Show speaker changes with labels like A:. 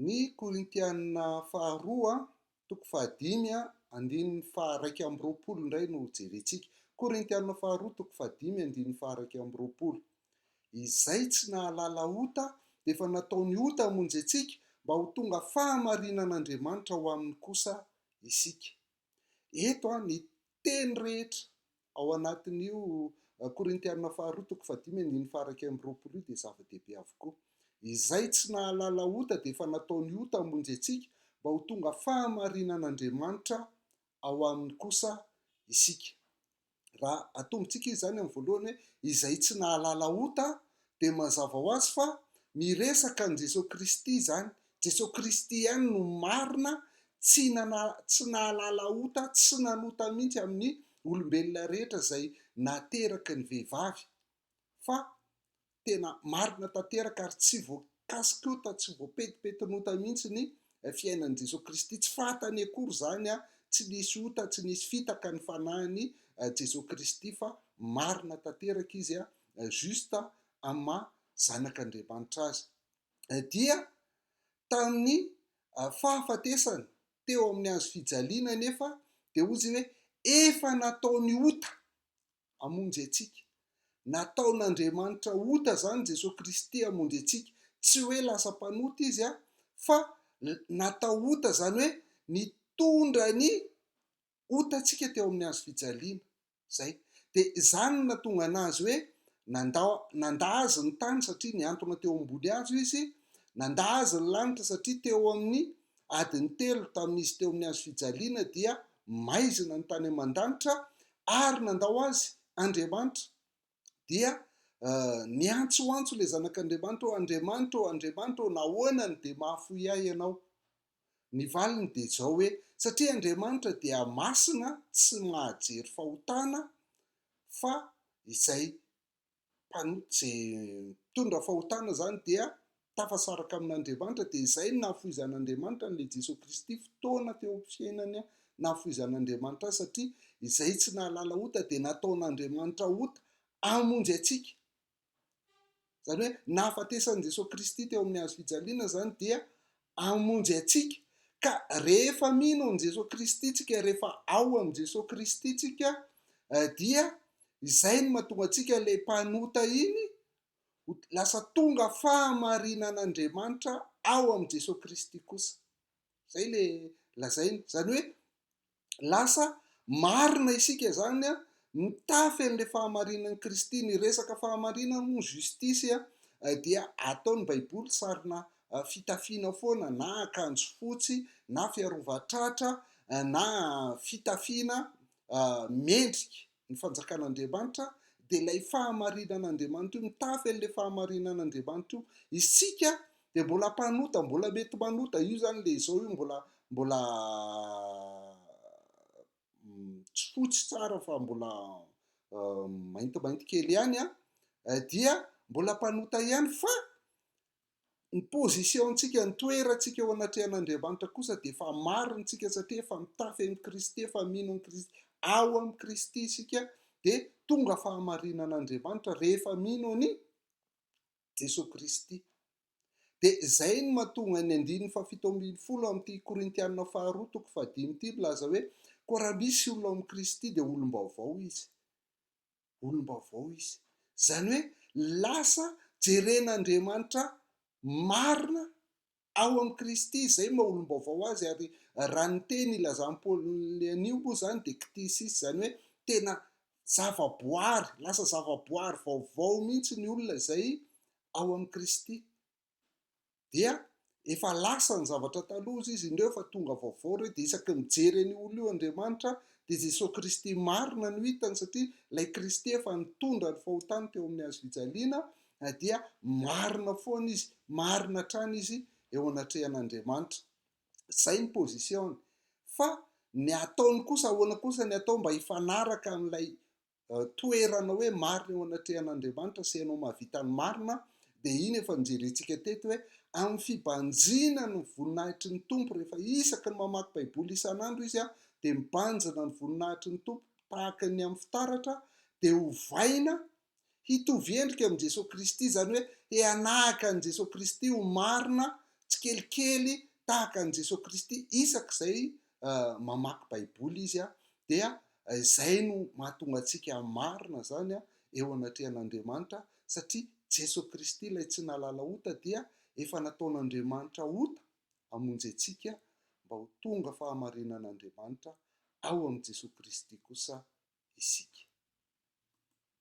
A: Ny Korintiana faharoa toko fahadimy andininy faharaika amby roapolo indray no hojerentsika. Korintiana faharoa toko fahadimy andininy faharaika amby roapolo. Izay tsy nahalala ota dia efa nataony ota hamonjy antsika mba ho tonga fahamarinan'Andriamanitra ho aminy kosa isika. Eto ny teny rehetra ao anatin'io Korintiana faharoa toko fahadimy andininy fahairaika amby roapolo io dia zava-dehibe avokoa. Izay tsy nahalala ota dia efa natao ny ota hamonjy antsika mba ho tonga fahamarinan'Andriamanitra ao aminy kosa isika. raha atombontsika izy izany amin'ny voalohany hoe izay tsy nahalala ota dia mazava ho azy fa miresaka an'i Jesoa Kristy izany, Jesoa Kristy ihany no marina tsy nana, tsy nahalala ota, tsy nanota mihitsy amin'ny olombelona rehetra izay nateraky ny vehivavy fa tena marina tanteraka ary tsy voakasik'ota, tsy voapetipetn'ota mihitsy ny fiainan'i Jesoa Kristy. Tsy fahatany akory izany an, tsy nisy ota, tsy nisy fitaka ny fanahin'i Jesoa Kristy fa marina tanteraka izy an, juste amin'ny maha zanak'Andriamanitra azy. Dia tamin'ny fahafatesany teo amin'ny hazo fijaliana anefa dia hozy hoe efa nataony ota hamonjy antsika. Nataon'Andriamanitra ota izany Jesoa Kristy hamonjy antsika. Tsy hoe lasa mpanota Izy an, fa natao ota izany hoe nitondra ny otantsika teo amin'ny hazo fijaliana. Izay. Dia izany no natonga an'azy hoe nanda, nanda azy ny tany satria niantona teo ambony hazo izy, nanda azy ny lanitra satria teo amin'ny adiny telo tamin'izy teo amin'ny hazo fijaliana dia maizina ny tany aman-danitra, ary nandao azy Andriamanitra, dia niantsoantso ilay Zanak'Andriamanitra hoe, Andriamanitra ô, Andriamanitra ô, nahoana no dia mahafoy ahy ianao? Ny valiny dia izao hoe, satria Andriamanitra dia masina tsy mahajery fahotana fa izay mpanota izay mitondra fahotana izany dia tafasaraka amin'Andriamanitra dia izay no nahafohizan'Andriamanitra an'ilay Jesoa Kristy fotoana teo amin'ny fiainany nahafohizan'Andriamanitra azy satria izay tsy nahalala ota dia nataon'Andriamanitra ota hamonjy antsika izany hoe nahafatesan'i Jesoa Kristy teo amin'ny hazo fijaliana izany dia hamonjy antsika. Ka rehefa mino an'i Jesoa Kristy tsika, rehefa ao amin'i Jesoa Kristy tsika, dia izay no mahatonga antsika ilay mpanota iny ho lasa tonga fahamarinan'Andriamanitra ao amin'i Jesoa Kristy kosa. Izay ilay lazainy. Izany hoe, Lasa marina isika izany mitafy an'ilay fahamarinan'i Kristy. Ny resaka fahamarinana moa, justice, dia ataon'ny Baiboly sarina fitafiana foana, na akanjo fotsy, na fiarovan-tratra, na fitafiana mendrika. Ny fanjakan'Andriamanitra dia ilay fahamarinan'Andriamanitra io, mitafy an'ilay fahamarinan'Andriamanitra io. Isika dia mbola mpanota, mbola mety manota, io izany ilay izao io mbola mbola tsy fotsy tsara fa mbola maintimainty kely ihany an, dia mbola mpanota ihany fa Ny position-tsika, ny toerantsika eo anatrehan'Andriamanitra kosa dia efa marintsika satria efa mitafy amin'i Kristy, efa mino an'i Kristy. Ao amin'i Kristy isika dia tonga fahamarinan'Andriamanitra rehefa mino an'i Jesoa Kristy. Dia izay no mahatonga ny andininy fahafito ambin'ny folo amin'ity Korintiana faharoa toko fahadimy ity milaza hoe koa raha misy olona ao amin'i Kristy dia olom-baovao izy. olom-baovao izy. Izany hoe lasa jeren'Andriamanitra marina ao amin'i Kristy, izay maha olom-baovao azy, ary raha ny teny ilazan'i Paoly anio moa izany dia ktisis, izany hoe tena zavaboary, lasa zavaboary vaovao mihitsy ny olona izay ao amin'i Kristy. dia efa lasa ny zavatra taloha izy indreo fa tonga vaovao ireo dia isaky ny mijery an'io olona io Andriamanitra dia Jesoa Kristy marina no hitany satria ilay Kristy efa nitondra ny fahotany teo amin'ny hazo fijaliana dia marina foana izy marina hatrany izy eo anatrehan'Andriamanitra izay ny position fa ny ataony kosa ahoana kosa ny atao mba hifanaraka amin'ilay toerana hoe marina eo anatrehan'Andriamanitra sy ianao mahavita ny marina, dia iny efa nojerentsika teto hoe amin'ny fibanjinany ny voninahitry ny Tompo rehefa isaky ny mamaky Baiboly isan'andro izy dia mibanjina ny voninahitry ny Tompo tahaka ny amin'ny fitaratra dia ovaina hitovy endrika amin'i Jesoa Kristy, izany hoe hianahaka an'i Jesoa Kristy ho marina tsikelikely tahaka an'i Jesoa Kristy isak'izay mamaky baiboly izy dia izay no mahatonga antsika hamarina izany eo anatrehan'Andriamanitra satria Jeso Kristy ilay tsy nahalala ota dia efa nataon'Andriamanitra ota hamonjy antsika mba ho tonga fahamarinan'Andriamanitra ao amin'i Jeso Kristy kosa isika.